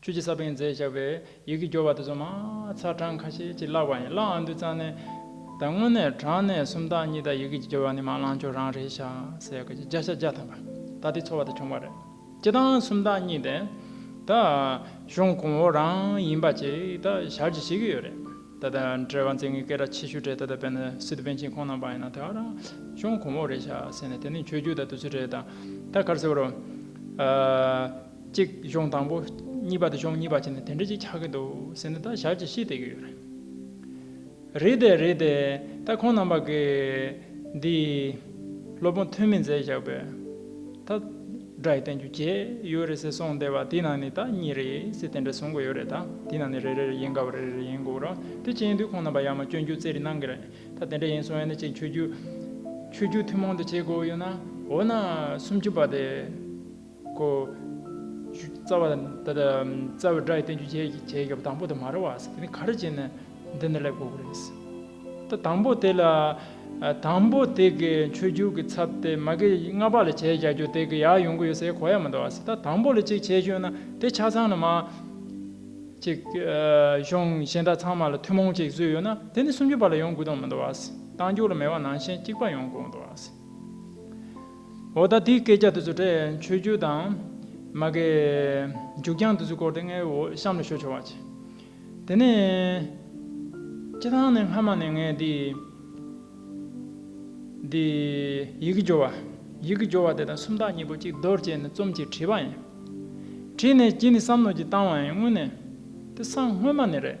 ཆོས་རྗེ་ས་པཎ་རྫས་བཞག་པའི་ཡི་གེ་སྦྱོར་བ་དེ་ཚོ་མ་ཚར་གྲངས་ཁ་ཤས་ཅིག་བཀླགས་པ་ཡིན་བཀླགས་འང་འདུག་ཙང་ནས་ད་དངོས་གནས་གྲངས་གནས་སུམ་རྟགས་གཉིས་དག་ཡི་གེ་ཀྱི་སྦྱོར་བ་ནི་མ་བླངས་ཆོག་རང་རེད་ཤག་སེ་གོ་བརྒྱ་ཆ་བརྒྱ་ཐམ་པ་ད་དེ་ཚོར་བ་དེ་བྱུང་བ་རེད་སྤྱི་དང་སུམ་རྟགས་གཉིས་དེ་ད་གཞུང་གོང་འོག་རང་ཡིན་པ་ཅིག་ད་ཞར་གྱིས་ཤེས་ཀྱི་ཡོད་རེད་ད་ད་འབྲེལ་བ་འཛིན་མཁན་སྐད་གྲགས་ཆེ་ཤོས་གྲས་ད་ད་བན་སི་ཏུ་བན་ཆེན་ཁོང་རྣམ་པ་ཡིན་ན་དེ་གར་གཞུང་གོང་འོག་རེད་ཤག་སེ་ནས་དེ་ནི་ཆོས་རྒྱུད་དང་དུས་ཚོད་རེད་ད་གར་སེ་བོ་རོ། གཅིག་གཞུང་དང་པོ། གཉིས་པ་དེ་གཞུང་གཉིས་པ་བྱས་ནས་དེ་འདྲ་ཅིག་ཆགས་ཀྱི་འདུག་ཟེར་ནས་ད་ཞག་ཅིག་ཤི་བསྡད་ཀྱི་ཡོད་རེད། རེད་དེ་རེད་དེ། ད་ཁོང་རྣམ་པ་གིས་འདི། སློབ་དཔོན་ཐོན་མི་མཛད་བཞག་པས། ད། སྒྲ་ཡི་བསྟན་བཅོས་བརྒྱད་ཡོད་རེད་ཟེར་གསུངས་བསྡད་པ་དེའི་ནང་ནས་ད་གཉིས་རེད་ཟེར་དེ་འདྲ་གསུངས་གི་ཡོད་རེད་ད་དེའི་ནང་ནས་རེ་རེར་ཡིན་དགའ་བ་རེ་རེར་ཡིན་དགོས་རོགས་དེ་བྱས་ཡིན་དུས་ཁོང་རྣམ་པ་ཡང་མ་སྐྱོན་རྒྱུ་རྩེ་རེ་གནང་གི་རེད་ད་དེ་འདྲ་ཡིན་གསུངས་ཡ་ན་ཅིག་ཆོས་རྒྱུད། ཆོས་རྒྱུད་ཐུན་མོང་དུ་བྱེད་དགོས་ཡོད་ན། འོ་ན། སུམ་ཅུ་པ་དེ། གོ། རྩ་བ། ད་ལྟ་རྩ་བའི་སྒྲ་ཡི་བསྟན་བཅོས་བྱས་ཀྱི་སྐབས་དང་པོ་དང་མ་རེད་བ། དེ་ནི་ག་རེ་བྱས་ནས་འདི་འདྲ་ལེགས་པོ་རེད། ད་དང་པོ་དེ་ལ། དང་པོ་དེ་གའི་མཆོད་རྒྱུགས་ཀྱི་ཚབ་དེ་མ་གི་ལྔ་པ་ལ་བྱས་རྒྱག་རྒྱུ་དེ་གི་ཡག་ཡོང་གི་ཡོད་སའི་གོ་ཡ་མི་འདུག་བ། ད་དང་པོ་ལ་ཅིག་བྱས་ཞོན་ན་དེ་ཆ་ཚང་ན་མ། ཅིག། ཤོང་གཞན་དག་ཚང་མ་ལ་ཐུན་མོང་ཅིག་བཟོས་ཡོད་ན་དེ་ནི་སུམ་ཅུ་པ་ལ་ཡོང་དགོས་དོན་མི་འདུག་བ། གཏང་རྒྱུགས་ལ་མེད་བ་ནང་བཞིན་གཅིག་པ་ཡོང་དགོས་འདུག་བ། འོ་ད་དེའི་སྐད་ཆ་དེ་ཚོ་དྲན་ཆོས་རྒྱུད་དང། མ་གས། མཇུག་རྒྱང་དེ་ཚོའི་སྐོར་དེ་ངའི་འོ་གཤམ་ལ་ཤོད་ཆོག་བ་ཅི། དེ་ནས། སྤྱི་ཐང་ནས་སྔ་མ་ནས་ངས་འདི། འདི། ཡི་གེ་སྦྱོར་བ། ཡི་གེ་སྦྱོར་བ་དེ་དང་སུམ་རྟགས་གཉིས་པོ་གཅིག་རྡོར་བཅས་ནས་རྩོམ་གྱིས་བྲིས་པ་ཡིན། བྲིས་ནས་གྱིས་ནི་བསམ་མནོ་གྱིས་བཏང་བ་ཡིན་དངོས་གནས། དེ་སང་སྔོན་མ་ནས་རེད།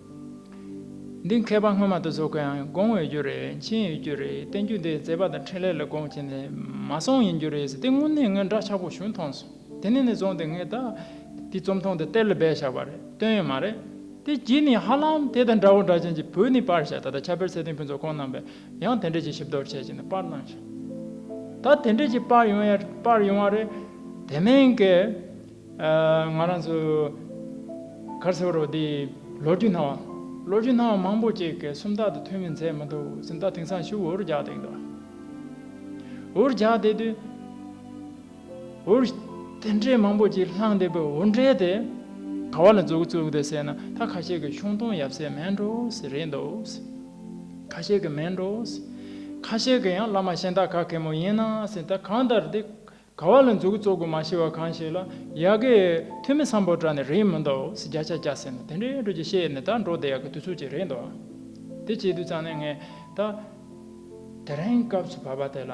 འདི་མཁས་པ་སྔོན་མ་དུ་ཟོ་ཁོའང་དགོངས་འོས་རྒྱུ་རེད་མཁྱེན་འོས་རྒྱུ་རེད་བསྟན་རྒྱུ་འདི་མཛད་པ་དང་འཕྲིན་ལས་ལ་དགོངས་བྱས་ནས་མ་སོང་ཡིན་རྒྱུ་རེད་ཟེར་དེ་དངོས་གནས་ངའི་འདྲ་ཆགས་པོ་བྱུང་མཐོང་སོང་དེ་ནས་ནས་བཟུང་སྟེ་ངས་ད་ལྟའི་རྩོམ་ཐུང་འདི་གཏེར་ལ་སྦས་བཞག་པ་རེད་བཏོན་ཡོད་མ་རེད། དེ་བགྱིས་ནས་ཧ་ལམ་དེ་དང་འདྲ་བོ་འདྲ་ཅན་གྱི་བོད་ནས་དཔར་བཞག་ད་ལྟ་ཁྱབ་སྤེལ་ཚད་ལྡན་ཕུན་ཚོགས་ཁོང་རྣམ་པས་ཡང་དེ་འདྲས་ཀྱི་ཞིབ་བསྡོར་བྱས་བྱས་ནས་དཔར་གནང་བཞག་ད་དེ་འདྲས་ཀྱི་དཔར་ཡོང་ཡ་དཔར་ཡོང་བ་རེད་དེ་མིན་གྱི། ང་རང་ཚོ་གར་སེར་བོ་རོ་དེ་ལོ་རྒྱུས་སྣང་བ། ལོ་རྒྱུས་སྣང་བ་མང་པོ་ཅིག་གི་སུམ་རྟགས་དུ་ཐོན་མིན་ཚད་མི་འདུག་སུམ་རྟགས་དེང་སང་ཤུགས་འུར་རྒྱག་བསྡད་ཀྱི་འདུག་འུར་རྒྱག་བསྡད་དུས། འུར་དེ་འདྲའི་མང་པོ་ཅིག་ལྷང་བསྡད་པའི་འུར་འདྲའི་དེ། ག་བ་ལ་འཛུགས་འཛུགས་བསྡད་སའི་ན་ད་ཁ་ཤས་ཀྱི་ཤོང་སྟོང་ཡབ་སྲས་མེད་འགྲོ་སྲིད་རེད་འདུག་ཁ་ཤས་ཀྱི་མེད་འགྲོ་སྲིད། ཁ་ཤས་ཀྱི་ཡང་བླ་མ་གཞན་དག་ག་གེ་མོ་ཡིན་ན་སྲིད་ད་གང་ལྟར་དེ་ག་བ་ལ་འཛུག་གི་ཙོག་གི་མ་ཤི་བ་གང་ཞིག་ལ་ཡ་གི་ཐུ་མི་སམ་པོ་ཏྲ་ནི་རེད་མི་འདུག་ཟི་རྒྱ་ཆ་རྒྱ་ཟེར་ནི་དེ་འདྲའི་འགྲོ་ཀྱི་ཤེས་ནི་ད་འགྲོ་བདེ་ཡག་གི་དུས་ཚོད་ཅིག་རེད་འདུག་དེ་བྱེད་དུས་ཙང་ནི་ངས་ད་དེ་རིང་སྐབས་སུ་བབ་པ་དེ་ལ་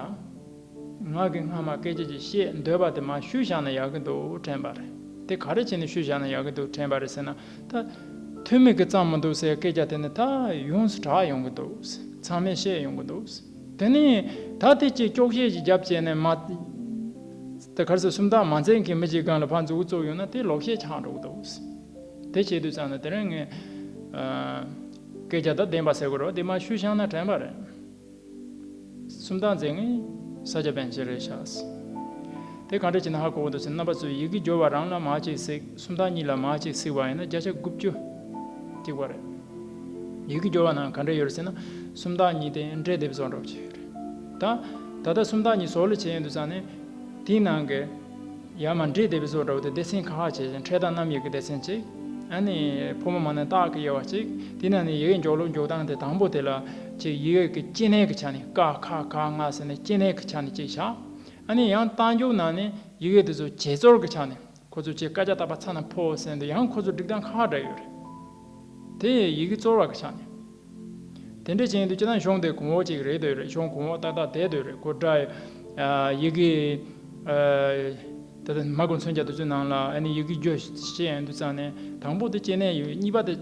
ང་གི་སྔ་མ་སྐད་ཅིག་ཅིག་བཤད་འདོད་པ་དེ་མ་ཞུས་བཞག་ན་ཡག་གི་འདུག་དྲན་པ་རེད་དེ་ག་རེ་བྱས་ནས་ཞུས་བཞག་ན་ཡག་གི་འདུག་དྲན་པ་རེད་ཟེར་ན་ད་ཐུ་མི་གི་ཙང་མི་འདུག་ཟེར་སྐད་ཆ་དེ་ནི་ད་ཡོངས་སུ་གྲགས་ཡོང་གི་འདུག་ཚང་མས་བཤད་ཡོང་གི་འདུག། དེ་ནས་ད་ཐེ་ཆེ་སྐྱོག་ཤས་ཀྱི་རྒྱབ་བཅད་ནས་མ། དེ་ཁར་ཟས་སུམ་རྟགས་མ་འཛེགས་མཁན་མི་གཅིག་གང་ལ་ཕར་འཛུགས་བཙོག་ཡོད་ན་དེ་ལོག་བཤད་ཆགས་འགྲོ་གི་འདུག། དེ་བྱེད་དུས་ཙམ་ན་དེ་རིང་ངས། སྐད་ཆ་དང་བདེན་པ་ཟེར་དགོས་རོགས་དེ་མ་ཞུས་ཤག་ན་དྲན་པ་རེད། སུམ་རྟགས་འཛེགས་ནི་ས་སྐྱ་པན་ཆེན་རེད་ཤག་ཟེར། དེ་གང་འདྲ་བྱས་ན་ཧ་གོ་གི་འདུག་ཟེར་ན་རྣམ་པ་ཚོས་ཡི་གེ་སྦྱོར་བ་རང་ལ་མ་གཅིག་གཟིགས་སུམ་རྟགས་གཉིས་ལ་མ་གཅིག་གཟིགས་པ་ཡིན་ན་བརྒྱ་ཆ་དགུ་བཅུ་གཅིག་པ་རེད། ཡུལ་གྱི་སྦྱོར་བ་རྣམས་ག་འདྲ་ཡོད་རེད་ཟེར་ན། སུམ་རྟགས་གཉིས་ཏེ་འབྲས་དེབ་བཟོ་འགྲོ་བྱས་ཡོད་རེད། ད། ད་ལྟ་སུམ་རྟགས་གཉིས་བཟོ་ལས་བྱེད་ཡོད་འདུག་ཙང་ནི། དེའི་ནང་གི། ཡང་མ་འབྲས་དེབ་བཟོ་འདྲ་བོ་དེ་སྡེ་ཚན་ཁག་ཁག་བྱས་ཤིང་འཕྲེད་དང་རྣམ་དབྱེ་གི་སྡེ་ཚན་གཅིག། ཨ་ནི། ཕོ་མོ་མ་ནི་རྟགས་ཀྱི་དབྱེ་བ་གཅིག། དེའི་ནང་ནས་ཡི་གེ་འཇོག་ལུགས་འཇོག་སྟངས་དེ་དང་པོ་དེ་ལ། གཅིག་ཡི་གེ་གི་སྐྱེ་གནས་ཀྱི་ཆ་ནས་ཀ་ཁ་ག་ང་ཟེར་ནས་སྐྱེ་གནས་ཀྱི་ཆ་ནས་གཅིག་བཞག། ཨ་ནི་ཡང་རྟགས་འཇོག་ནང་ནས་ཡི་གེ་དེ་ཚོ་བྱེད་རྩོལ་གྱི་ཆ་ནས་ཁོ་ཚོས་ཁྱེད་སྐད་ཆ་བཏབ་པ་ཚ་ནས་ཕོ་བོ་ཟེར་འདུག་ཡང་ཁོ་ཚོའི་སྒྲིག་སྟངས་ཁ་ཁ་འདྲ་ཡོད་རེད། དེ་ཡི་ཡི་གེ་གཙོར་བ་གི་ཆ་ནས། དེ་འདྲའི་བྱེད་འདུག་ཅི་ན་གཞུང་དེ་གོང་འོག་ཅིག་རེད་འདོད་རེད་གཞུང་གོང་འོག་ཏག་ཏག་དེ་འདོད་རེད་གོ་སྒྲ་ཡི་གེ། ད་ལྟ་མ་གོ་མཚོན་ཆ་དེ་ཚོའི་ནང་ལ་ཨ་ནི་ཡི་གེ་རྒྱོ་ཤེས་ཡང་འདུག་ཙང་ནས་དང་པོ་དེ་སྐྱེ་གནས་ཡོད་གཉིས་པ་དེ་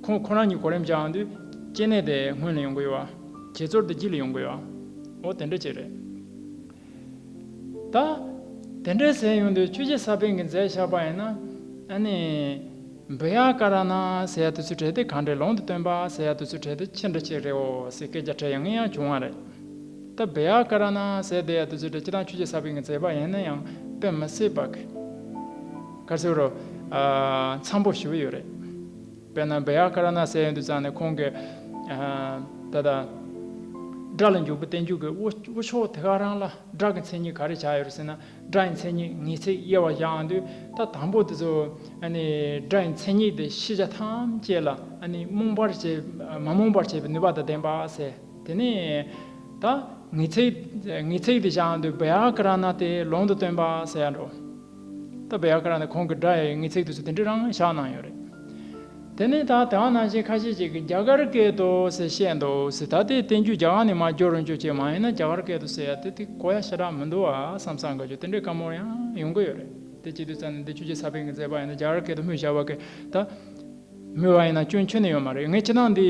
ཁོང་ཁོ་རང་གཉིས་གོ་རིམ་བྱའང་འདུག་སྐྱེ་གནས་དེ་སྔོན་ལ་ཡོང་གི་ཡོད་བ། བྱེད་ཚོར་དེ་རྗེས་ལ་ཡོང་གི་ཡོད་བ། འོ་དེ་འདྲ་ཅིག་རེད། ད། དེ་འདྲའི་ཟས་ཡོང་དུས་ཁྱོད་ཀྱི་ས་པན་གྱི་རྫས་བཞག་པ་ཡིན་ན། ཨ་ནི། འབུ་ཡག་ཀ་ར་ན་ཟས་ཡག་དུ་ཚུད་བྲལ་དེ་གང་འདྲའི་ལོང་དུ་སྟོན་པ་ཟས་ཡག་དུ་ཚུད་བྲལ་དེ་ཅི་འདྲ་ཞིག་རེད་འོ་ཟེར་སྐད་རྒྱ་ཕྲད་ཡང་ངེས་ཡང་བྱུང་བ་རེད། ད་འབུ་ཡག་ཀ་ར་ན་ཟས་དེ་ཡག་དུ་ཚུད་བྲལ་སྤྱི་དང་ཁྱོད་ཀྱི་ས་པན་གྱི་རྫས་པ་ཡིན་ན་ཡང་དཔེ་མི་སྲིད་པ། ག་ཚོད་རོ། ཨ། འཚམས་པོ་ཞུ་གི་ཡོད་རེད། དཔེར་ན་བི་ཡ་ཀ་ར་ན་སའི་ཡོན་དུ་བརྩམས་ནས་ཁོང་གིས། ད་ལྟ། སྒྲ་ལ་འཇུག་པའི་བསྟན་འཇུག་གི་དབུ་ཕྱོགས་དེ་ག་རང་ལ་སྒྲ་གི་མཚན་ཉིད་ག་རེ་ཆགས་ཡོད་རེད་ཟེར་ན་སྒྲ་ཡི་མཚན་ཉིད་ངེས་ཚིག་དབྱེ་བ་གཞག་འདོད་ད་དང་པོ་དེ་ཚོ། སྒྲ་ཡི་མཚན་ཉིད་དེ་ཤེས་བྱ་ཐམས་ཅད་ལ། རྨོངས་པར་བྱེད། མ་རྨོངས་པར་བྱེད་པའི་ནུས་པ་དང་ལྡན་པ་ཟེར། དེ་ནས། ད། ངེས་ཚིག། ངེས་ཚིག་དེ་བཞག་འདོད་བི་ཡ་ཀ་ར་ན་དེ་ལུང་དུ་སྟོན་པ་ཟེར་ཡ་འགྲོ། སྟོད་བྷེ་ཨ་ཀ་ར་ནས་ཁོང་གི་སྒྲ་ཡི་ངེས་ཚིག་དུས་ཚོད་དེ་འདྲའི་རང་བཞག་གནང་ཡོད་རེད། དེ་ནས་ད་དེ་ང་ནང་བཞིན་ཁ་ཤས་ཅིག་གིས་རྒྱ་གར་སྐད་དུ་ཟེར་བཤད་འདུག་ཟེར་ད་དེའི་བསྟན་རྒྱུད་རྒྱ་གར་ནས་མ་བསྒྱུར་རུང་ཆོག་ཅེས་མ་ཡིན་ན་རྒྱ་གར་སྐད་དུ་ཟེར་ཡ་དེ་དེ་གོ་ཡ་ཞེ་དྲག་མི་འདུག་བསམ་བསམ་དགའ་ཆོས་དེ་འདྲའི་བཀའ་མོལ་ཡང་ཡོང་གི་ཡོད་རེད་དེ་སྤྱི་འཐུས་ཚང་ནས་འདི་ཆོས་རྗེ་ས་ཕེང་གིས་མཛད་པ་ཡིན་ད་རྒྱ་གར་སྐད་དུ་སྨོས་བཞག་བ་གས་ད་མོལ་བ་ཡིན་ན་སྐྱོན་ཁྱོན་ནས་ཡོད་མ་རེད་ངས་ཕྱི་ནང་འདི།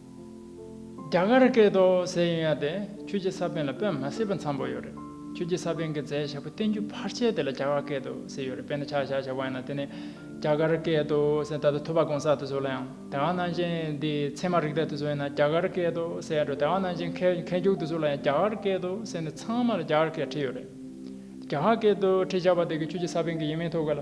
རྒྱ་གར་སྐད་དུ་ཟས་ཡོན་ཡ་དེ་ཁྱོད་ཀྱི་ས་པན་ལ་དཔེ་མ་བསྲེས་པ་འཚམས་པོ་ཡོད་རེད། ཁྱོད་ཀྱི་ས་པན་གྱི་རྫས་ཞག་པོ་བསྟན་རྒྱུ་ཕར་ཆེར་དེ་ལ་རྒྱ་གར་སྐད་དུ་ཟས་ཡོད་རེད་དཔེར་ན་ཆག་ཞག་ཞག་པོ་ཡང་ན་དེ་ནི་རྒྱ་གར་སྐད་དུ་ཟས་ད་ལྟ་ཐུ་བ་གོང་ས་དུ་ཟོ་ལ་ཡང་དེ་ག་ནང་བཞིན་དེ་ཚད་མ་རིག་ད་དུ་ཟོ་ཡིན་ན་རྒྱ་གར་སྐད་དུ་ཟས་ཡ་འགྲོ་དེ་ག་ནང་བཞིན་ཁལ་ཁལ་རྒྱུག་དུ་ཟོ་ལ་ཡང་རྒྱ་གར་སྐད་དུ་ཟས་ནི་ཚང་མ་ལ་རྒྱ་གར་སྐད་བྲིས་ཡོད་རེད། རྒྱ་གར་སྐད་དུ་བྲིས་ཆག་པ་དེ་གི་ཁྱོད་ཀྱི་ས་པན་གྱི་ཡིན་མིན་ཐོ་ག་ལ།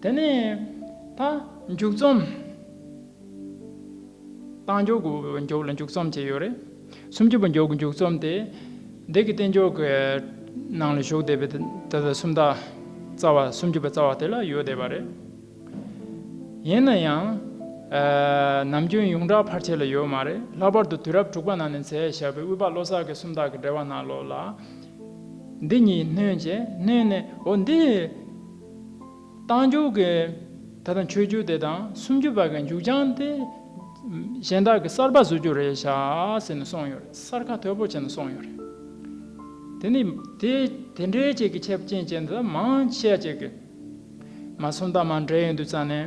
དེ་ནས་ད། མཇུག་རྩོམ། རྟགས་འཇོག་གི་མཇུག་ལ་མཇུག་རྩོམ་ཅེས་ཡོད་རེད། སུམ་ཅུ་པ་མཇུག་གི་མཇུག་རྩོམ་དེ། འདས་ཀྱི་རྟེན་འཇོག་གི་ནང་ལ་ཞུགས་བསྡད་པའི་ད་ལྟ་སུམ་རྟགས་རྩ་བ་སུམ་ཅུ་པ་རྩ་བ་དེ་ལ་ཡོད་བསྡད་པ་རེད། ཡིན་ན་ཡང། ནམ་རྒྱུན་ཡོངས་གྲགས་ཕར་ཆེར་ལ་ཡོད་མ་རེད་ལྷག་པར་དུ་དུས་རབས་དྲུག་པ་ནང་ནས་མཛད་བཞག་པའི་དབུས་པ་བློ་བཟང་གི་སུམ་རྟགས་ཀྱི་འགྲེལ་བ་ནང་ལོགས་ལ། འདི་གཉིས་སྣོན་བྱས་སྣོན་ནས་འོ་འདི། བཏང་འགྱུར་གྱི་ད་ལྟ་མཆོད་རྒྱུ་དེ་དང་སུམ་ཅུ་བར་གྱི་མཇུག་བྱང་དེ་གཞན་དག་གིས་གསར་པ་བཟོ་རྒྱུ་རེད་བྱ་ཟེར་ནས་སོང་ཡོད་རེད་གསར་ཁ་དོད་པོ་བྱས་ནས་སོང་ཡོད་རེད། དེ་ནི་དེ་དེ་འདྲའི་བཅས་ཀྱི་ཁྱབ་ཅན་བཅས་འདི་དག་མང་ཆེ་བ་བཅས་ཀྱི། མ་སུམ་དང་མ་འདྲེས་ཡོད་འདུག་ཙང་ནས།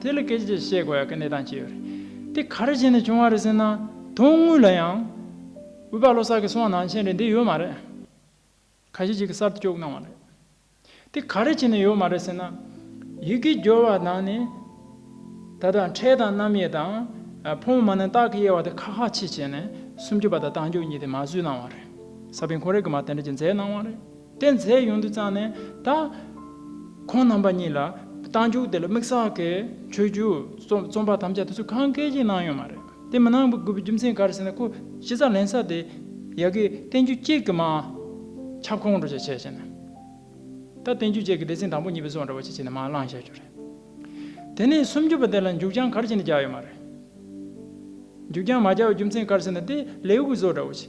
དེ་ལ་སྐད་ཅིག་ཅེས་བཤད་དགོས་ཡག་གི་གནས་སྟངས་ཅི་ཡོད་རེད། དེ་ག་རེ་བྱས་ནས་བྱུང་བ་རེད་ཟེར་ན། དོན་དངོས་ལ་ཡང། འོས་པ་ལོ་གསར་གྱི་སོང་ནང་ཆེན་རེད་འདི་ཡོད་མ་རེད། ཁ་ཤས་ཅིག་གིས་གསར་དུ་བཅོག་གནང་བ་རེད། དེ་ག་རེ་བྱས་ནས་ཡོད་མ་རེད་ཟེར་ན། ཡི་གེ་སྦྱོར་བ་དང་ནི། ད་ལྟ་འཕྲལ་དང་རྣམ་དབྱེ་དང། ཕོ་མོ་མ་ནི་རྟགས་ཀྱི་དབྱེ་བ་དེ་ཁ་ཁ་ཆེ་བྱས་ནས་སུམ་ཅུ་པ་དང་དང་ཅུ་གཉིས་དེ་མ་བཟོས་གནང་བ་རེད། ས་པན་གོང་རེ་གི་མ་དེ་འདྲ་ཅིག་མཛད་གནང་བ་རེད། རྟེན་རྫས་ཡོངས་འདུ་བརྩམས་ནས་ད། ཁོང་རྣམ་པ་གཉིས་ལ་རྟ་མཇུག་དེ་ལ་དམིགས་བསལ་གྱི་ཆོས་བརྒྱུད་རྩོམ་པ་ཐམས་ཅད་དུ་ཚུར་གང་སྐད་ཅིག་གནང་ཡོད་མ་རེད། དེ་མི་གནང་དགོས་པའི་རྒྱུ་མཚན་ག་རེ་ཟེར་ན་ཁོ་ཇི་ཙམ་ལན་ས་དེ་ཡག་གི་བསྟན་བཅོས་གཅིག་གི་མ་ཁྱབ་ཁོང་ཁྲོ་ཆེ་བྱས་བྱས་ནས། ད་བསྟན་བཅོས་གཅིག་གི་སྡེ་ཚན་དང་པོ་གཉིས་པའི་སོགས་འདྲ་བོ་ཆེ་བྱས་ནས་མ་བླངས་བཤད་རྒྱུ་རེད། དེ་ནས་སུམ་བརྒྱུད་པ་དེ་ལ་མཇུག་རྐྱང་གར་བྱས་ནས་རྒྱག་ཡོད་མ་རེད། མཇུག་རྐྱང་མ་རྒྱག་པའི་རྒྱུ་མཚན་ག་རེ་ཟེར་ན་དེ་ལེའུ་གི་བཟོ་འདྲ་བོ་ཆེ།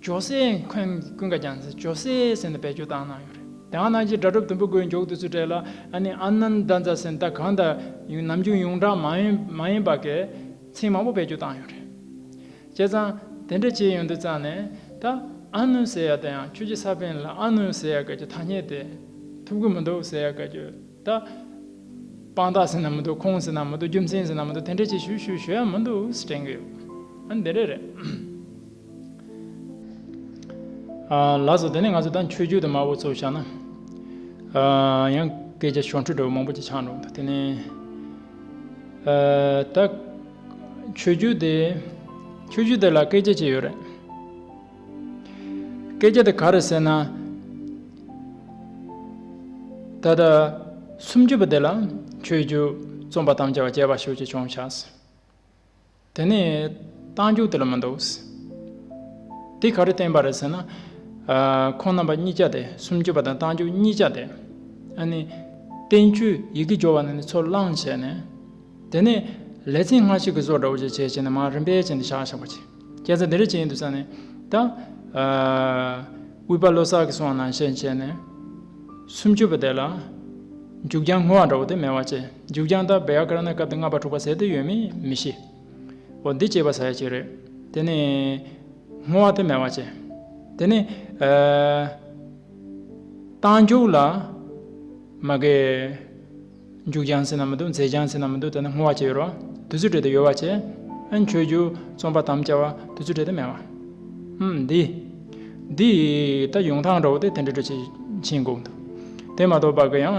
ཇོ་སྲས་འཁོན་གྱི་ཀུན་དགའ་རྒྱ་མཚོས་ཇོ་སྲས་ཟེར་ནས་བེད་སྤྱོད་བཏང་གནང་ཡོད་རེད་དེ་འང་ནང་ཆེན་སྒྲ་སྒྲུབ་དུམ་བུ་དགོས་མགྱོགས་དུས་ཚོད་སྤྲད་ལ་ཨ་ནི་ཨ་ནནྡ་མཛའ་ཟེར་ནད་གང་དང་ཡུང་ནམ་རྒྱུན་ཡུང་གྲགས་མ་ཡིན་པ་གས་ཚིག་མང་པོ་བེད་སྤྱོད་བཏང་ཡོད་རེད་བྱས་ཙང་དེ་འདྲ་བྱས་ཡོང་དུས་ཙང་ནས་ད་ཨ་ནུ་ཟེར་ཡག་དེ་ཡང་ཁྱོད་ཀྱི་ས་པན་ལ་ཨ་ནུ་ཟེར་ཡག་གས་ཀྱི་ཐ་སྙད་དེ་ཐུབ་གི་མི་འདུག་ཟེར་ཡག་གས་ཀྱི་ད་དཔང་རྟགས་ཟེར་ན་མི་འདུག་ཁོང་ཟེར་ན་མི་འདུག་རྒྱུ་མཚན་ཟེར་ན་མི་འདུག་དེ་འདྲ་བྱས་ཞུ་ཞུ་ཞུ་ཡག་མི་འདུག་ཟེར་དྲན་གི་ཡོད་ཨ་ནི་དེ་འདྲ་རེད། ལགས་སོ་དེ་ནས་ང་ཚོ་ད་ཆོས་རྒྱུད་དུ་མ་བོ་ཚོ་བཞག་ན། ཡང་སྐད་ཆ་ཤོར་འཕྲུལ་འདྲ་བོ་མང་པོ་ཅིག་ཆགས་འགྲོ་འདུག་དེ་ནི། ད་ཆོས་རྒྱུད་དེ་ཆོས་རྒྱུད་དེ་ལ་སྐད་ཆ་ཅི་ཡོད་རེད། སྐད་ཆ་དེ་ག་རེད་ཟེར་ན། ད་ལྟ་སུམ་ཅུ་པ་དེ་ལ་ཆོས་རྒྱུད་རྩོམ་པ་དམ་བཅའ་བ་རྒྱལ་བ་ཞུགས་ཀྱི་བྱུང་བཞག། དེ་ནས་རྟགས་འཇུག་དེ་ལ་མི་འདུག། དེ་ག་རེ་བསྟན་པ་རེད་ཟེར་ན། ཁོང་རྣམ་པ་གཉིས་ཆ་སྟེ་སུམ་ཅུ་པ་དང་རྟགས་འཇུག་གཉིས་ཆ་སྟེ། ཨ་ནི། བསྟན་བཅོས་ཡི་གེ་སྦྱོར་བ་ནི་ནི་ཚོ་བླངས་བྱས་ནས། དེ་ནས་ལེ་ཚན་སྔ་ཕྱི་གི་སོར་འདྲ་བོ་ཅིག་བྱས་བྱས་ནས་མར་རིམ་པས་བྱས་ནས་བཞག་བཞག་པ་བྱས། སྐད་ཆ་འདི་རེ་བྱས་ཡིན་འདུག་ས་ནི། ད། དབུས་པ་བློ་གསར་གྱི་གསུང་བ་ནང་བཤད་བྱས་ནས། སུམ་ཅུ་པ་དེ་ལ། འཇུག་ཀྱང་སྔོ་བ་འདྲ་བོ་དེ་མེད་བ་བྱས། མཇུག་བྱང་དང་བེ་ཡ་ཀ་ར་ནའི་སྐབས་དེ་ལྔ་པ་དྲུག་པ་ཟེར་དུས་ཡོད་མེད་མི་ཤེས། འོ་འདི་བྱེད་པ་ཟ་ཡ་གཅིག་རེད། དེ་ནི། སྔོ་བ་དེ་མེ་བ་བྱས། དེ་ནི། རྟགས་འཇུག་ལ། མ་གས། མཇུག་བྱང་ཟེར་ན་མི་འདུག་མཛད་བྱང་ཟེར་ན་མི་འདུག་ད་ནི་སྔོ་བ་བྱས་ཡོད་རོ། དུས་ཚོད་དྲེད་དེ་ཡོལ་བ་བྱས། ཨན་ཆོས་རྒྱུ་རྩོམ་པ་དམ་བཅའ་བ་དུས་ཚོད་དྲེད་དེ་མེ་བ། ཨུམ་འདི། འདི། ད་ཡུང་ཐང་འདྲ་བོ་དེ་དེ་འདྲ་འདྲ་བྱེད་ཕྱིན་དགོས་འདུག་དེ་མ་གཏོགས་བ་ག་ཡང།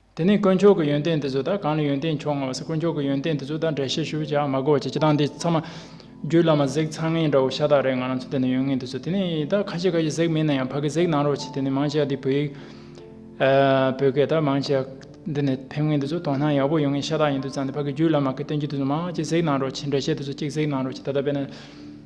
དེ་ནས་དཀོན་མཆོག་གི་ཡོན་ཏན་དེ་ཚོ་དང་གང་ལ་ཡོན་ཏན་མཆོག་མངའ་བ་སེ་དཀོན་མཆོག་གི་ཡོན་ཏན་དེ་ཚོ་དང་འདྲ་བཤད་ཞུ་བྱ་མ་གོ་བྱེད་ཅི་དང་དེ་ཚང་མ། རྒྱུད་བླ་མ་གཟེགས་ཚང་ངན་འདྲ་བོ་ཤ་སྟག་རེད་ང་རང་ཚོ་དེ་ནས་ཡོན་ངན་དེ་ཚོ་དེ་ནས་ད་ཁ་ཤས་ཁ་ཤས་གཟེགས་མིན་ན་ཡང་ཕ་གི་གཟེགས་གནང་རོགས་བྱེད་དེ་ནས་མང་ཆེ་བ་འདི་བོད་ཡིག། བོད་སྐད་དང་མང་ཆེ་བ་འདི་ནས་ཕེབས་མཁན་དེ་ཚོ་དོ་སྣང་ཡག་པོ་ཡོང་མཁན་ཤ་སྟག་ཡིན་དུས་ཚང་དེ་ཕ་གི་རྒྱུད་བླ་མ་གི་སྟོན་རྒྱུ་དེ་ཚོ་མང་ཆེ་གཟེགས་གནང་རོགས་བྱེད་འདྲ་བཤད་དེ་ཚོ་གཅིག་གཟེགས་གནང་རོགས་བྱེད་ད་ལྟ་དཔེ་ན།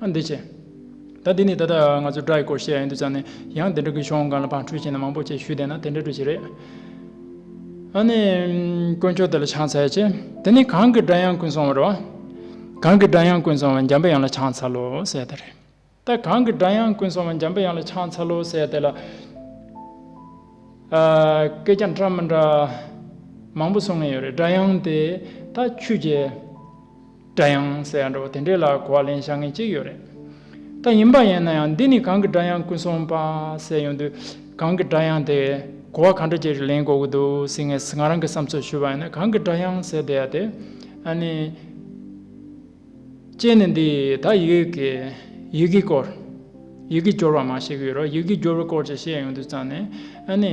ཨ་འདི་ཆེ། ད་འདི་ནི་ད་ལྟ་ང་ཚོས་སྒྲ་ཡི་སྐོར་བཤད་ཡོད་འདུག་ཙང་ནི་ཡང་དེ་འདྲ་གི་ཤོང་གང་ལ་བང་འཁྲུལ་བྱས་ན་མང་པོ་བཅས་ཞུས་བསྡད་ན་དེ་འདྲ་འགྲོ་བྱེད་རེད། ཨ་ནི། དཀོན་མཆོག་དེ་ལ་ཕྱག་འཚལ་ཆེ། དེ་ནི་གང་གི་སྒྲ་དབྱངས་ཀུན་སོང་བ་རེད། གང་གི་སྒྲ་དབྱངས་ཀུན་སོང་བ་འཇམ་པའི་དབྱངས་ལ་ཕྱག་འཚལ་ལོ་ཟེར་ད་རེད། ད་གང་གི་སྒྲ་དབྱངས་ཀུན་སོང་བ་འཇམ་པའི་དབྱངས་ལ་ཕྱག་འཚལ་ལོ་ཟེར་དེ་ལ། སྐད་རྒྱ་འདྲ་མི་འདྲ། མང་པོ་སོང་ངེས་ཡོད་རེད་སྒྲ་དབྱངས་དེ། ད་ཆུ་རྒྱལ། སྒྲ་དབྱངས་ཟེར་ཡག་འགྲོ་དེ་འདྲའི་ལ་གོ་བ་ལེན་བྱ་ངེས་ཅི་ཡོད་རེད་ད་ཡིན་པ་ཡིན་ན་ཡང་འདི་ནི་གང་གི་སྒྲ་དབྱངས་ཀུན་སོང་པ་ཟེར་ཡོང་དུས་གང་གི་སྒྲ་དབྱངས་དེ་གོ་བ་གང་འདྲ་ཅིག་ལེན་དགོས་ཀྱི་འདུག་ཟེར་ངེས་ང་རང་གི་བསམ་ཚོད་ཞུ་བ་ཡིན་ན་གང་གི་སྒྲ་དབྱངས་ཟེར་བསྡད་ཡ་དེ་ཨ་ནི། ཅེས་ནི་འདི་ད་ཡིག་གི་ཡི་གེའི་སྐོར་ཡི་གེའི་སྦྱོར་བ་མ་ཤེས་ཀྱི་ཡོད་རོགས་ཡི་གེའི་སྦྱོར་བའི་སྐོར་ཅིག་བཤད་ཡོང་དུས་ཙང་ནས་ཨ་ནི།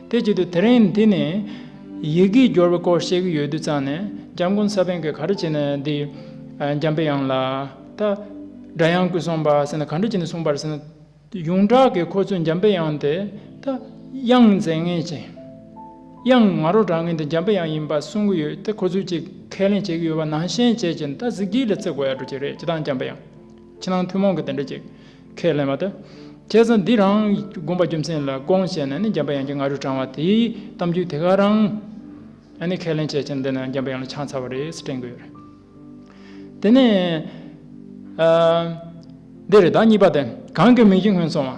དེ་བརྒྱུད་དུ་དེ་རིང་འདི་ནས་ཡི་གེའི་སྦྱོར་བའི་སྐོར་བཤད་ཀྱི་ཡོད་དུས་ཙང་ནས་འཇམ་མགོན་ས་པཎ་གྱིས་ག་རེ་བྱས་ནས་འདི་འཇམ་དཔལ་དབྱངས་ལ་ད་སྒྲ་དབྱངས་སྐུ་གསུངས་པ་ཟེར་ན་ག་འདྲ་བྱས་ནས་གསུངས་པར་ཟེར་ན། ཡོངས་གྲགས་ཀྱི་ཁོ་ཚོས་འཇམ་དཔལ་དབྱངས་དེ་ད་དབྱངས་མཛད་ངེས་ཅན། དབྱངས་ང་རོ་གྲགས་ངེས་དེ་འཇམ་དཔལ་དབྱངས་ཡིན་པ་གསུང་གི་ཡོད་དེ་ཁོ་ཚོས་ཅིག་ཁས་ལེན་བྱེད་ཀྱི་ཡོད་པ་ནང་བཞིན་བྱས་ཀྱི་འདི་ད་གཟིགས་སྒྲིལ་ལ་བརྩི་དགོས་ཡག་འགྲོ་ཀྱི་རེད་ཅེ་ད་འཇམ་དཔལ་དབྱངས་ཕྱི་ནང་ཐུན་མོང་གི་དེ་འདྲ་ཅིག་ཁས་ལེན་པ་དེ། ཁྱེད་ཚོ་འདི་རང་དགོན་པ་རྒྱུ་མཚན་ལ་སྐོང་བྱས་ནས་ནི་འཇམ་པ་དབྱངས་ཀྱི་ང་རོས་དྲངས་བ་དེའི་གཏམ་རྒྱུད་དེ་ག་རང་ནི་ཁས་ལེན་བྱས་ཕྱིར་འདི་ནི་འཇམ་པ་དབྱངས་ལ་ཆང་ཚ་བ་རེད་ཟེར་དྲན་དགོས་རེད། དེ་ནས། འདི་རེད་ད་གཉིས་པ་དེ་གང་གི་མིང་གིས་སྔོན་སོང་བ།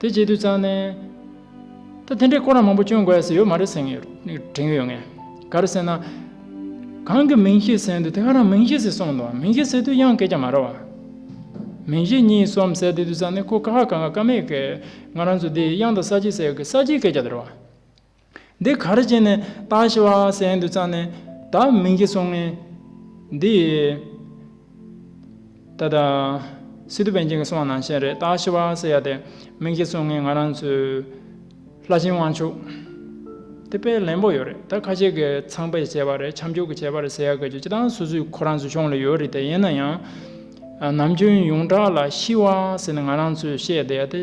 དེ་རྗེས་དུད་ཚང་ནས། ད་དེ་འདྲའི་སྐོར་རམ་མང་པོ་བསྐྱོན་དགོས་ཡ་ས་ཡོད་མ་རེད་ཟེར་དྲན་གྱི་ཡོད་ངེས། ག་རེ་ཟེར་ན། གང་གི་མིང་ཤེས་ཟེར་འདུག་དེ་ག་རང་མིང་ཤེས་ཟེར་སོང་འདུག་མིང་ཤེས་ཟེར་དུས་གཡང་སྐད་ཀྱང་མ་ར་བ། མིང་ཤེས་གཉིས་གསུམ་ཟེར་དུས་དུད་ཚང་ནས་ཁོ་ཀ་ཧ་ག་ང་ཀ་མེད་ཀི། ང་རང་ཚོ་འདི་གཡང་དང་ས་སྐྱིད་ཟེར་གི་ས་སྐྱིད་སྐད་ཀྱང་དེ་ར་བ། འདི་ག་རེ་བྱས་ནས་བཏང་ཞེས་བ་སེན་དུ་བཙངས་ནས་ད་མིང་གིས་སོང་ངས། འདི། ད་ལྟ། སི་ཏུ་བན་ཆེན་གྱི་གསུང་བ་ནང་བཞིན་རེད་ད་ཞེས་བ་སེ་ཡ་དེ་མིང་གིས་སོང་ངས་ང་རང་ཚོའི། ལྷ་ཆེན་དབང་ཕྱུག། དེ་དཔེ་ལེན་པོ་ཡོད་རེད་ད་ཁ་ཤས་ཀྱི་ཚངས་པས་བྱས་པ་རེད་ཁྱམས་ཕྱུག་གིས་བྱས་པ་རེད་ཟེར་ཡ་ག་རྒྱུ་ཅི་ལྟ་སུ་སུའི་ཁོ་རང་ཚོའི་གཞུང་ལ་ཡོད་རེད་དེ་ཡིན་ན་ཡང། ནམ་རྒྱུན་ཡོངས་གྲགས་ལ་ཤི་བ་སེ་ན་ང་རང་ཚོས་བཤད་བསྡད་ཡ་དེ།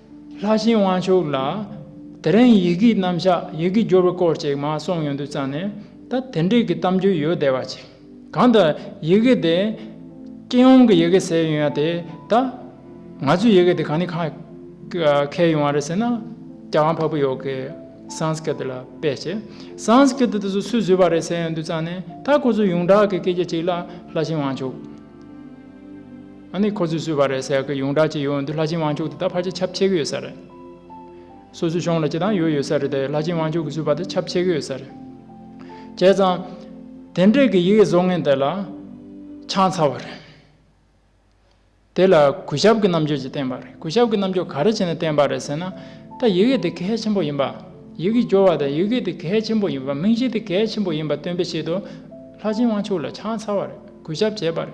ལྷ་ཤིང་དབང་ཕྱུག་ལགས། དེ་རིང་ཡི་གེའི་རྣམ་གཞག་ཡི་གེའི་སྦྱོར་བའི་སྐོར་ཅིག་མ་གསུངས་ཡོང་དུས་རྩ་ནས་ད་དེ་འབྲེལ་གྱི་གཏམ་རྒྱུད་ཡོད་བསྡད་པ་ཅིག། གང་ལྟར་ཡི་གེ་དེ། སྤྱི་ཡོངས་ཀྱི་ཡི་གེ་ཟེར་ཡོང་ཡ་དེ་ད། ང་ཚོའི་ཡི་གེ་དེ་གང་ནས་ཁ་གས་ཡོང་བ་རེད་ཟེར་ན། རྒྱ་གར་བྷ་བྷི་ཡོ་གའི། Sanskrit། ལ་དཔེ་བྱས། Sanskrit དེ་ཚོ་སུས་བཟོས་པ་རེད་ཟེར་ཡོང་དུས་རྩ་ནས་ད་ཁོ་ཚོའི་ཡོངས་གྲགས་ཀྱི་སྐད་ཆ་ཅིག་ལ་ལྷ་ཤིང་དབང་ཕྱུག། ཨ་ནི་ཁོ་ཚོས་བཟོས་པ་རེད་ཟེར་གི་ཡོངས་གྲགས་ཅིག་ཡོད་འདུག་ལྷ་ཆེན་དབང་ཕྱུག་དེ་དག་ཕར་ཆེ་ཁྱབ་ཆེ་གི་ཡོད་ས་རེད། སོ་སོའི་གཞུང་ལ་སྤྱི་དང་ཡོད་ཡོད་ས་རེད་དེ་ལྷ་ཆེན་དབང་ཕྱུག་གིས་བཟོས་པ་དེ་ཁྱབ་ཆེ་གི་ཡོད་ས་རེད། བྱས་ཙང། དེ་འདྲས་ཀྱི་ཡི་གེ་བཟོ་མཁན་དེ་ལ་ཆང་ཚ་བ་རེད། དེ་ལ་གུས་ཞབས་ཀྱི་རྣམ་དཔྱོད་ཅིག་བསྟན་པ་རེད་གུས་ཞབས་ཀྱི་རྣམ་དཔྱོད་ག་རེ་བྱས་ནས་བསྟན་པ་རེད་ཟེར་ན། ད་ཡི་གེ་དེ་གལ་ཆེན་པོ་ཡིན་པ། ཡི་གེ་སྦྱོར་བ་དང་ཡི་གེ་དེ་གལ་ཆེན་པོ་ཡིན་པ་མིང་གཞི་དེ་གལ་ཆེན་པོ་ཡིན་པ་སྟོན་པའི་ཆེད་དུ། ལྷ་ཆེན་དབང་ཕྱུག་ལ་ཆང་ཚ་བ་རེད་གུས་ཞབས་བྱས་པ་རེད།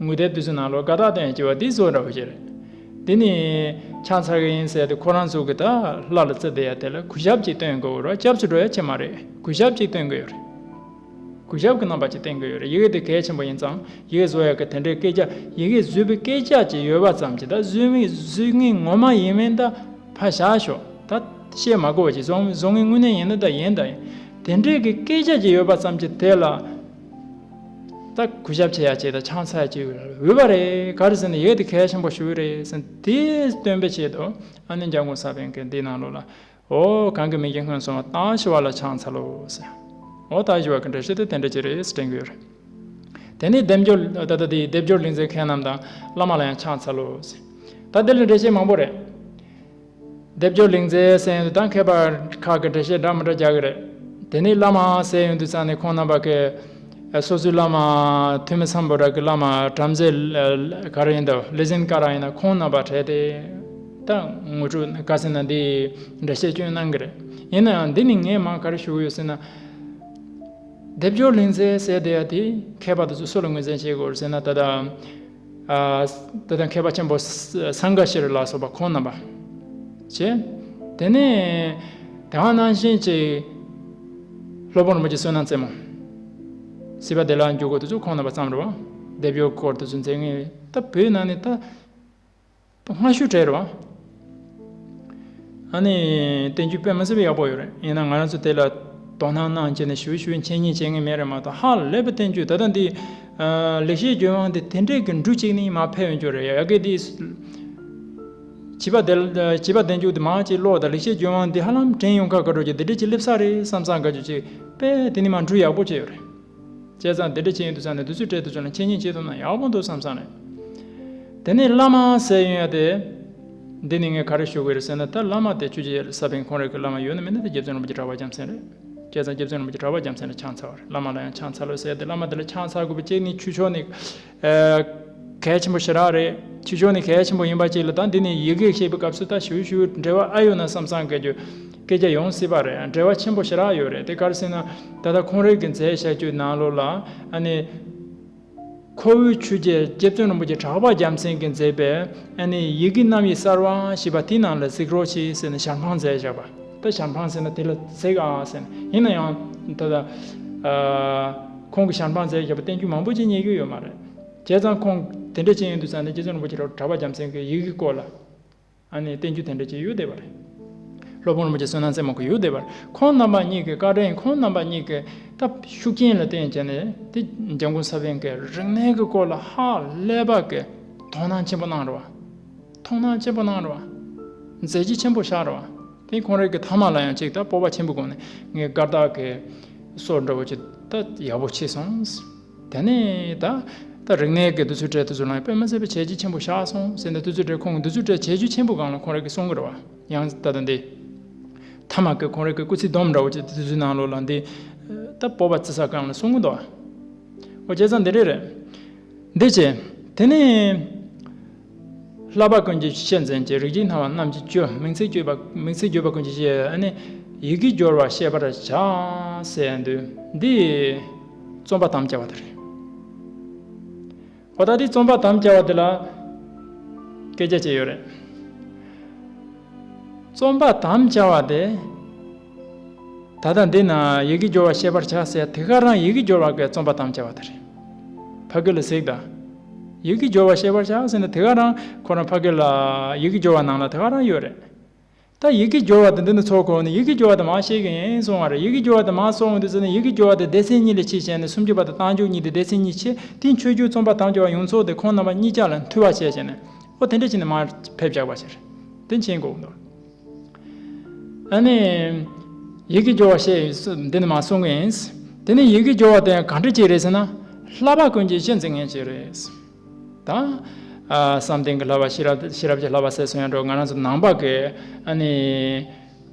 དངུལ་རྟའི་དུས་སུ་ནང་ལོགས་ཀ་དག་སྟེང་ལྕི་བ་དེའི་ཟོ་འདྲ་བོ་ཞིག་རེད། དེ་ནི་ཆང་ཚར་གི་ཡིན་ཟེར་ཏེ་ཁོ་རང་ཚུགས་ཀྱི་ད་ལྷ་ལ་བརྩི་བསྡད་ཡ་དེ་ལ་གུས་ཞབས་ཅིག་སྟོན་དགོས་རོགས་སྐྱབས་སུ་འགྲོ་ཡ་ཁྱེད་མ་རེད་གུས་ཞབས་ཅིག་སྟོན་གི་ཡོད་རེད། གུས་ཞབས་ཀྱི་རྣམ་པ་ཅིག་སྟོན་གི་ཡོད་རེད་ཡི་གེ་དེ་གལ་ཆེན་པོ་ཡིན་ཙང་ཡི་གེ་བཟོ་ཡ་གི་དེ་འདྲའི་སྐད་ཆ་ཡི་གེ་བཟོས་པའི་སྐད་ཆ་ཅིག་ཡོད་པ་ཙམ་གྱིས་ད་བཟོས་མི་བཟོས་ངས་ངོ་མ་ཡིན་མིན་ད་ཕ་བཞག་ཤོག་ད་བཤད་མ་གོ་བ་ཅིག་བཟོ་མི་བཟོ་ངས་དངོས་གནས་ཡིན་ན་ད་ཡིན་ད་ཡིན་དེ་འདྲའི་གི་སྐད་ཆ་ཅིག་ཡོད་པ་ཙམ་གྱིས་དེ་ལ། ད་གུས་ཞབས་ཆེ་ཡ་བྱས་ད་ཆང་ཚད་ཅིག་འོས་པ་རེད་ག་རེ་ཟེར་ནས་ཡེད་དེ་གལ་ཆེན་པོ་ཞིག་རེད་ཟེར་དེ་སྟོན་པས་བྱས་དུ་ཨ་ནི་འཇང་དགུན་ས་བོན་གི་འདི་ནང་ལོག་ལ་ཨོ་གང་གི་མིང་གི་སྔོན་སོང་བ་ཏང་ཞི་བ་ལ་ཆང་ཚ་ལོ་ཟེར་ཨོ་ཏང་ཞི་བ་གི་འདྲ་ཤེས་དེ་དེ་འདྲ་ཅིག་རེད་ཟེར་དྲན་གི་རེད་དེ་ནས་སྡེབ་སྦྱོར་ད་ད་དེའི་སྡེབ་སྦྱོར་ལེགས་མཛད་མཁན་རྣམས་དང་བླ་མ་ལ་ཡང་ཆང་ཚ་ལོ་ཟེར་ད་དེ་ལ་འདྲ་ཤེས་མང་པོ་རེད། སྡེབ་སྦྱོར་ལིང་ཚའི་ཟས་ཡོན་དུ་ད་མཁས་པ་ཁག་གིས་འགྲེལ་བཤད་འདྲ་མི་འདྲ་རྒྱག་གི་རེད། དེ་ནི་བླ་མའང་ཟས་ཡོན་དུ་བསམ་ནས་ཁོང་རྣམ་པ་ཀའི་སོ་སོའི་བླ་མ་ཐོན་མི་འཚམ་པོ་རག་གི་བླ་མ་བྲམ་ཟེ་ག་རང་ཡིན་དོ་ལི་ཟིན་ཀ་རང་ཡིན་ན་ཁོང་རྣམ་པ་བྲལ་ཏེ་ད་ངོ་ཕྲུག་ཀ་ཟེར་ན་འདིས་འགྲེལ་བཤད་སྐྱོན་གནང་གི་རེད་ཡིན་ན་ཡང་འདི་ནི་ངས་མང་ག་རེ་ཞུ་གི་ཡོད་ཟེར་ན། སྡེབ་སྦྱོར་ལིང་ཚའི་ཟས་དེ་ཡ་དེ་མཁས་པ་དེ་ཚོ་སུ་ལ་ངོས་འཛན་བྱེད་དགོས་རེད་ཟེར་ན་ད་ལྟ། དེ་དང་མཁས་པ་ཆེན་པོ་སངྒ་ཀ་ཤི་རི་ལ་སོགས་པ་ཁོང་རྣམ་པ། བྱས། དེ་ནས་དེ་ཧང་སྣང་བཞིན་གྱི་སློབ་དཔོན་རིན་པོ་ཆེ་བསོད་ནམས་རྩེ་མོ། སྲིད་པ་བདེ་ལགས་འཇུག་སྒོ་དེ་ཚོ་ཁོང་རྣམ་པ་བརྩམས་རོགས། སྡེབ་གཡོག་སྐོར་དེ་ཚོ་མཛད་ངེས། ད་བོད་ནང་ནས་ད། སྔ་ཤོས་བྲལ་རོ། ཨ་ནི། བསྟན་བཅོས་པད་མ་སེར་པོ་ཡག་པོ་ཡོད་རེད་ཡིན་ན་ང་རང་ཚོ་དེ་ལ་དོ་སྣང་གནང་བྱས་ནས་ཞུ་ཞུ་མཁྱེན་མཁྱེན་བྱེད་ངེས་མེད་རེད་མ་གཏོགས་ཧ་ལས་པ་བསྟན་བཅོས་ད་ལྟ་འདི། ལེགས་བཤད་ལྗོན་དབང་འདི་དེ་འདྲས་ཀྱི་འབྲུ་གཅིག་ནི་མ་ཕལ་བས་འགྱོ་རེད་ཡ་གི་འདི། བྱིས་པ་དེ་བྱིས་པ་བསྟན་བཅོས་འདི་མ་གཅིག་ཀློག་དང་ལེགས་བཤད་ལྗོན་དབང་འདི་ཧ་ལམ་དྲན་ཡོང་ཁ་ག་འགྲོ་གི་འདི་འདྲས་ཀྱི་སླེབས་ས་རེད་བསམ་བསམ་ག་ཅུ་གཅིག་པས་དེ་ནི་མ་འབྲུ་ཡག་པོ་བཅས་ཡོད་རེད། བྱས་ཙང་དེ་འདྲ་བྱེད་ཡུན་དུ་བསམ་ནས་དུས་ཚོད་སྤྲད་དུ་བྱུང་ན་ཁྱེད་ཉིད་བྱེད་ཐུབ་ན་ཡག་པོ་འདུག་བསམ་བསམ་ནས་དེ་ནས་བླ་མ་ཟེར་ཡོང་ཡ་དེ། འདི་ནི་ངས་ག་རེ་ཞུ་དགོས་རེད་ཟེར་ན་ད་བླ་མ་དེ་ཆོས་རྗེ་ས་པཎ་ཁོང་རེད་གི་བླ་མ་ཡོད་ན་མིན་ན་དེ་རྒྱལ་བཙུན་རིན་པོ་ཆེ་གྲྭ་བ་རྒྱམ་སེང་རེད། བྱས་ཙང་རྒྱལ་བཙུན་རིན་པོ་ཆེ་གྲྭ་བ་རྒྱམ་སེང་ལ་ཆང་འཚལ་བ་རེད་བླ་མ་ལ་ཡང་ཆང་འཚལ་ལོས་ཟེར་ཡ་དེ་བླ་མ་དེ་ལ་ཆང་འཚལ་དགོས་པའི་ཅེས་ནི་ཆུ་ཆོག་ནི། གལ་ཆེན་པོ་ཞེ་དྲག་རེད། ཆེ་ཕྱོགས་ནི་གལ་ཆེན་པོ་ཡིན་པ་གཅིག་ལ་དང་འདི་ནི་ཡིག་གེ་ཤེས་པའི་སྐབས་སུ་ད་ཞུ་ཞུ་འབྲེལ་བ་ཨ་ཡོད་ན་བསམ་བསམ་སྐད་རྒྱུ། སྐད་ཆ་ཡོང་སྲིད་པ་རེད་འབྲེལ་བ་ཆེན་པོ་ཞེ་དྲག་ཡོད་རེད་དེ་སྐར་སེང་ན་ད་ལྟ་ཁོང་རེད་གི་མཛད་བཞག་བརྒྱུད་ནང་ལོག་ལ་ཨ་ནི། ཁོ་བོའི་ཆོས་རྗེ་རྗེ་བཙུན་རིན་པོ་ཆེ་གྲགས་པ་རྒྱལ་མཚན་གྱིས་མཛད་པའི་ཨ་ནི་ཡི་གེ་རྣམ་དབྱེ་གསར་བ་ཞེས་པ་དེའི་ནང་ལ་གཟིགས་རོགས་གྱིས་ཟེར་ནས་ཞར་འཕངས་མཛད་བཞག་པ། ད་ཞབས་འཕངས་ཟེར་ན་དེ་ལ་ཟེགས་ཨ་ཨ་ཟེར། ཡིན་ན་ཡང། ད། ཁོང་གི་ཞབས་འཕངས་ཟེགས་ཞེས་པ་བསྟན་བཅོས་མང་པོ་ཅིག་རྙེད་རྒྱུ་ཡོད་མ་རེད། བྱས་ཙང་ཁོང་དེ་འདྲ་བྱེད་ཡོན་དུ་བསམ་ནས་རྗེ་བཙུན་རིན་པོ་ཆེ་རབ་གྲྭ་པ་རྒྱམ་མཚན་གྱི་ཡི་གེ་བསྐོར་ལ། ཨ་ནི་བསྟན་བཅོས་དེ་འདྲ་བྱེད་ཡུལ་བསྡད་པ་རེད། སློབ་དཔོན་རིན་པོ་ཆེ་བསོད་ནམས་སེར་མོ་གི་ཡུལ་བསྡད་པར་ཁོང་རྣམ་པ་གཉིས་ཀྱི་བཀའ་དྲིན་ཁོང་རྣམ་པ་གཉིས་ཀྱི་སྟབས་ཤུགས་རྐྱེན་ལ་བརྟེན་བྱས་ནས་དེ་རྒྱ་མགོན་ས་པཎ་གྱི་རིག་གནས་ཀྱི་སྐོར་ལ་ཧ་ལས་པ་གྱི་དོ་སྣང་ཆེན་པོ་གནང་རོགས། མཐོང་སྣང་ཆེན་པོ་སྣང་རོ། མཛད་རྗེས་ཆེན་པོ་ཤར་རོ། དེ་གང་རེག་གི་ཐ་མ་ལ་ཡང་གཅིག་དང་སྤོབས་པ་ཆེན་པོས་གང་ནས་ངའི་སྐར་བདག་གི། སོར་འདྲ་བོ་ཅི་ད་ཡག་པོ་མཆིས་སོང། དེ་ནས་ད་ད་རིག་གནས་ཀྱི་འདུ་ཚོད་གྲལ་དུ་ཚུར་ལངས་པས་མི་ཟེར་བའི་བྱས་རྗེས་ཆེན་པོ་ཤར་སོང་ཟེར་ནས་འདུ་ཚོད་གྲལ་ཁོང་གི་འདུ་ཚོད་གྲལ་བྱས་རྗེས་ཆེན་པོ་གང་ལ་གང་རེག་གི་གསུང་གི་རེད་བ། ཡང་ད་ད་འདི། ཐ་མ་ཀྱི་གང་རེག་གི་སྐུ་ཚེའི་སྡོམ་འདྲ་བོ་ཅི་ད་དུས་ཚོད་ནང་ལོགས་ལ་འདི། ད་སྤོབས་པ་བརྩི་ས་གང་ལ་གསུང་གི་འདུག་བ། ཨོ་ཁྱེད་ཚང་འདི་རེད་རེད། འདི་བྱས། དེ་ནས། བསླབ་པ་ཀུན་གྱི་ཆེད་མཚན་གྱི་རིགས་ཀྱི་སྣང་བ་རྣམས་ཀྱི་བཅུ། མིང་ཚིག་བརྗོད་པ་མིང་ཚིག་བརྗོད་པ་ཀུན་གྱི་ཆེད་ནི། ཡི་གེ་སྦྱོར་བ་ཤེས་པར་བྱ། ཟེར་ཡང་འདོད། འདི། རྩོམ་པ་དམ་བཅའ་བ་དེ་རེད། ཨོ་ད་དེ་རྩོམ་པ་དམ་བཅའ་བ་དེ་ལ། སྐད་རྒྱ་བཅས་ཡོད་རེད། རྩོམ་པ་དམ་བཅའ་བ་དེ། ད་ལྟ་འདི་ན་ཡི་གེ་སྦྱོར་བ་ཤེས་པར་བྱ་ཟེར་དེ་ག་རང་ཡི་གེ་སྦྱོར་བ་འགའི་རྩོམ་པ་དམ་བཅའ་བ་དེ་རེད། ཕ་གི་ལ་གཟིགས་ད། ཡི་གེ་སྦྱོར་བ་ཤེས་པར་བྱ་ཟེར་ན་དེ་ག་རང་ཁོ་རང་ཕ་གི་ལ་ཡི་གེ་སྦྱོར་བ་ནང་ལ་དེ་ག་རང་ཡོད་རེད། ད་ཡི་གེ་སྦྱོར་བ་དེ་འདི་ནས་ཚོགས་གོ་ནས་ཡི་གེ་སྦྱོར་བ་དེ་མང་ཤེས་གིན་སོང་བ་རེད་ཡི་གེ་སྦྱོར་བ་དེ་མང་ཚོགས་འོང་དུས་ཟེར་ན་ཡི་གེ་སྦྱོར་བ་དེ་སྡེ་ཚན་གཉིས་ལས་ཆེ་བྱས་ནས་སུམ་ཅུ་པ་དང་བཏང་འཇུག་གཉིས་དེ་སྡེ་ཚན་གཉིས་ཆེ་དེ་ཆོས་བརྒྱུད་རྩོམ་པ་དམ་བཅའ་བ་ཡོངས་ཚོགས་དེ་ཁོང་རྣམ་པ་གཉིས་ཅག་ལ་འཐུས་བ་བྱས་བྱས་ནས་ཨོ་དེ་འདྲ་བྱས་ནས་མར་ཕེབས་རྒྱག་པ་བྱས་རེད་དེ་མཆན་གོ་འདུག། ཨ་ནི། ཡིད་ཀྱི་སྦྱོར་བ་ཞེས་འདི་ནི་མ་གསུངས་ཀྱི་ཡིན། དེ་ནི་ཡིད་ཀྱི་སྦྱོར་བ་དེ་གང་འདྲི་གཅིག་རེད་ཟེར་ན། ལྷ་བ་ཀུན་གྱི་གཞི་འཛིན་མཁན་གཅིག་རེད། དང། བསམ་གཏན་གྱི་ལྷ་བ་ཤེས་རབ་ཤེས་རབ་ཀྱི་ལྷ་བ་ཟེར་སོང་ཡང་འགྲོ་ང་རང་ཚོ་ནང་པ་གི་ཨ་ནི།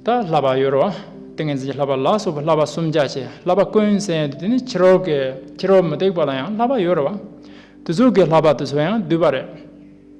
ད་ལྷ་བ་ཡོད་རོ། ཏིང་ངེ་འཛིན་གྱི་ལྷ་བ་ལ་སོགས་པའི་ལྷ་བ་སུམ་བརྒྱ་ཆེ་ལྷ་བ་ཀུན་ཟེར་ཡང་དེ་ནི་ཕྱི་རོལ་གྱི་ཕྱི་རོལ་མུ་སྟེགས་པ་ལ་ཡང་ལྷ་བ་ཡོད་རེད་བ། དུས་ཚོད་ཀྱི་ལྷ་བ་དེ་ཚོ་ཡང་བསྡུས་པ་རེད།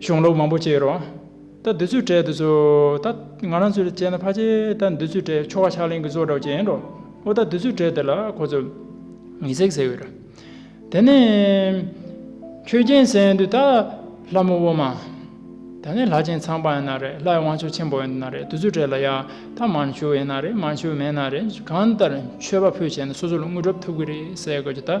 གཞུང་ལུགས་མང་པོ་བཅས་རོ། ད་འདི་ཚོའི་གྲས་འདི་ཚོ། ད་ང་རང་ཚོས་དཔྱད་ན་ཕ་ཆེ་ད་འདི་ཚོའི་གྲས་ཆོ་ག་ཕྱག་ལེན་གྱི་གཙོ་བོ་གྲགས་ཅན་རོ། འོ་ད་འདི་ཚོའི་གྲས་འདི་ལ་ཁོ་ཚོ། ངེ་སྲེག་ཟེར་བས་ར། དེ་ནས། ཁྱོད་རྒྱན་ཟེར་དུས་ད། ལྷ་མོ་དབུ་མ། ད་ནས་ལྷ་ཆེན་ཚངས་པ་ཡིན་ན་རེད་ལྷའི་དབང་ཕྱུག་ཆེན་པོ་ཡིན་ན་རེད་འདི་ཚོའི་གྲས་ལ་ཡང་ད་མར་ཕྱུག་ཡིན་ན་རེད་མར་ཕྱུག་མེད་ན་རེད་གང་ལྟར་མཆོད་པ་ཕུལ་བྱས་ན་སོ་སོ་ལ་དངུལ་གྲབས་ཐུབ་ཀྱི་རེད་ཟེར་དགོས་ཀྱི་ད།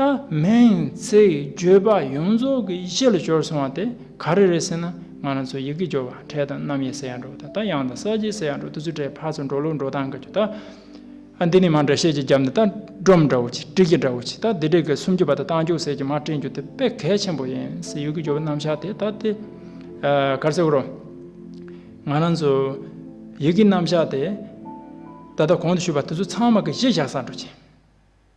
ད་མིང་ཚིག་བརྗོད་པ་ཡོངས་རྫོགས་ཀྱི་ཡིད་ཆེས་ལ་སྦྱོར་སོང་བ་དེ་ག་རེ་རེད་ཟེར་ན་ང་རང་ཚོ་ཡི་གེ་སྦྱོར་བ་འཕྲལ་དང་རྣམ་དབྱེ་ཟེར་ཡང་འགྲོ་དང་ད་དབྱངས་དང་ས་བྱི་ཟེར་ཡང་འགྲོ་དུས་ཚོད་འཕྲལ་ཕར་ཚུར་འགྲོ་ལུགས་འགྲོ་སྟངས་ཀྱི་ད་འདི་ནི་མ་འདྲ་བཤད་ཀྱི་རྒྱབ་ནས་ད་སྒྲོམ་འདྲ་བོ་གཅིག་བྲིས་ཀྱི་འདྲ་བོ་གཅིག་ད་འདི་འདྲ་གི་སུམ་ཅུ་པ་ད་རྟགས་འཇུག་ཟེར་གྱི་མར་བྲིས་འགྱུར་དེ་དཔེ་གལ་ཆེན་པོ་ཡིན་སྲིད་ཡི་གེ་སྦྱོར་བའི་རྣམ་གཞག་དེ་ད་དེ་གར་ཟེར་རོ། ང་རང་ཚོ་ཡི་གེའི་རྣམ་གཞག་དེ་ད་ལྟ་གོང་དུ་ཞུས་པ་དེ་ཚོ་ཚང་མ་གི་གཞི་བཞག་སར་འགྲོ་ཅིང།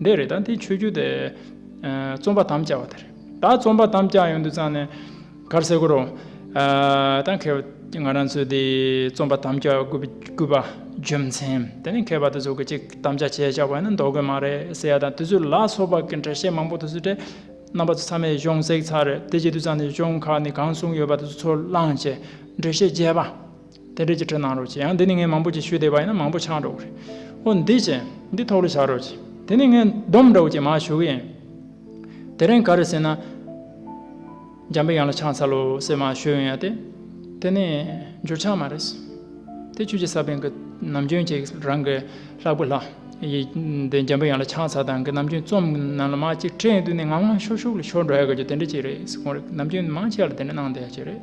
འདི་རེད་ད་འདི་ཆོས་རྒྱུད་དེ། རྩོམ་པ་དམ་བཅའ་བ་དེ་རེད་ད་རྩོམ་པ་དམ་བཅའ་ཡོང་དུས་ཙང་ནས། གར་སེ་གོ་རོ། ད་མཁས་པ་ང་རང་ཚོས་དེ་རྩོམ་པ་དམ་བཅའ་དགོས་པ། རྒྱུ་མཚན་དེ་ནི་མཁས་པ་དེ་ཚོ་གི་ཅིག་དམ་བཅའ་བྱས་བཞག་པ་ནི་འདོར་དགོས་མ་རེད་ཟེར་ཡ་དང་དེ་ཚོས་ལ་སོགས་པ་གི་འགྲེལ་བཤད་མང་པོ་དེ་ཚོ་དྲེད། རྣམ་པ་ཚོ་ཚང་མས་གཞུང་བསྲེགས་ཚར་རེད་དེ་བྱེད་དུས་ཙང་ནས་གཞུང་ཁག་ནས་གང་གསུངས་ཡོད་པ་དེ་ཚོ་ཚུར་བླངས་རྗེས་འགྲེལ་བཤད་རྒྱས་པ། དེ་འབྲེལ་གྱི་དྲི་གནང་རོགས་གྱིས་ཡང་འདི་ནི་ངས་མང་པོ་ཅིག་ཞུས་བསྡད་པ་ཡིན་ན་མང་པོ་འཆང་རོགས་གྱིས། ཨོ་འདི་ཅི། འདི་ཐོག་ལེ་བྱ་རོགས་གྱིས། དེ་ནི་ངས་བསྡོམས་རོགས་གྱིས་མ་ཞུ་གི་ཡིན། དེ་རིང་ག་རེ་ཟེར་ན། འཇམ་པའི་དབྱངས་ལ་ཆང་ཚ་ལོ་ཟེར་མ་ཞུས་ཡོང་ཡ་དེ། དེ་ནི་འཇུར་ཆང་མ་རེད། དེ་ཁྱོད་ཀྱི་ས་པན་གྱི་ནམ་རྒྱུན་གྱི་རང་གི་ལྷ་བུ་ལྷ། ཡིས་འདི་འཇམ་པའི་དབྱངས་ལ་ཆང་ཚ་དང་གི་ནམ་རྒྱུན་རྩོམ་གི་ནང་ལ་མ་ཅིག་ཁྲེང་ཏུ་ནས་ངང་ངང་ཤོག་ཤོག་ལ་ཤོར་འགྲོ་ཡ་གི་རྒྱུ་དེ་འདྲ་ཅིག་རེད། ཁོང་རེ་ནམ་རྒྱུན་མང་ཆེ་བ་ལ་དེ་འདྲ་གནང་བསྡད་ཡ་གི་རེད།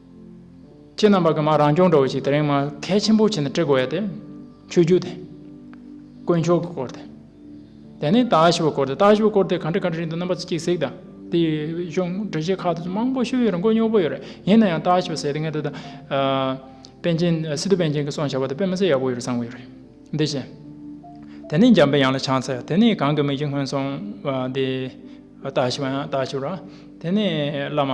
ཁྱེད་རྣམས་པ་གི་མ་རང་སྐྱོང་འདྲ་བོ་ཞིག་དེ་རིང་མ་གལ་ཆེན་པོ་ཆེ་ནས་དཀྲི་དགོས་ཡ་དེ། ཆོས་རྒྱུད་དེ། དཀོན་མཆོག་གི་སྐོར་དེ། དེ་ནས་ལྟ་ཞིབ་པ་སྐོར་དེ་ལྟ་ཞིབ་པ་སྐོར་དེ་ག་འདྲི་ག་འདྲི་རིང་དུ་རྣམ་པ་ཚོ་གཅིག་གཟིགས་དང་དེ་ཡི་གཞུང་འབྲེལ་ཆེ་ཁག་དེ་མང་པོ་ཤོད་ཡོད་རེད་མགོ་སྙོག་པོ་ཡོད་རེད་ཡིན་ན་ཡང་ལྟ་ཞིབ་པ་ཟེར་དེ་ངས་ད་ལྟ། པན་ཆེན་སི་ཏུ་པན་ཆེན་གི་སོང་བྱ་བ་དེ་དཔེ་མི་སྲིད་ཡག་པོ་ཡོད་རེད་བསམ་གི་ཡོད་རེད་འདི་བཞིན། དེ་ནས་འཇམ་པའི་ཡང་ལ་ཆང་ཚལ་དེ་ནས་གང་གི་མིག་གཅིག་སྔོན་སོང་བ་དེ། ལྟ་ཞིབ་པ་ཡང་ལྟ་ཞིབ་ར་དེ་ནས་བླ་མ།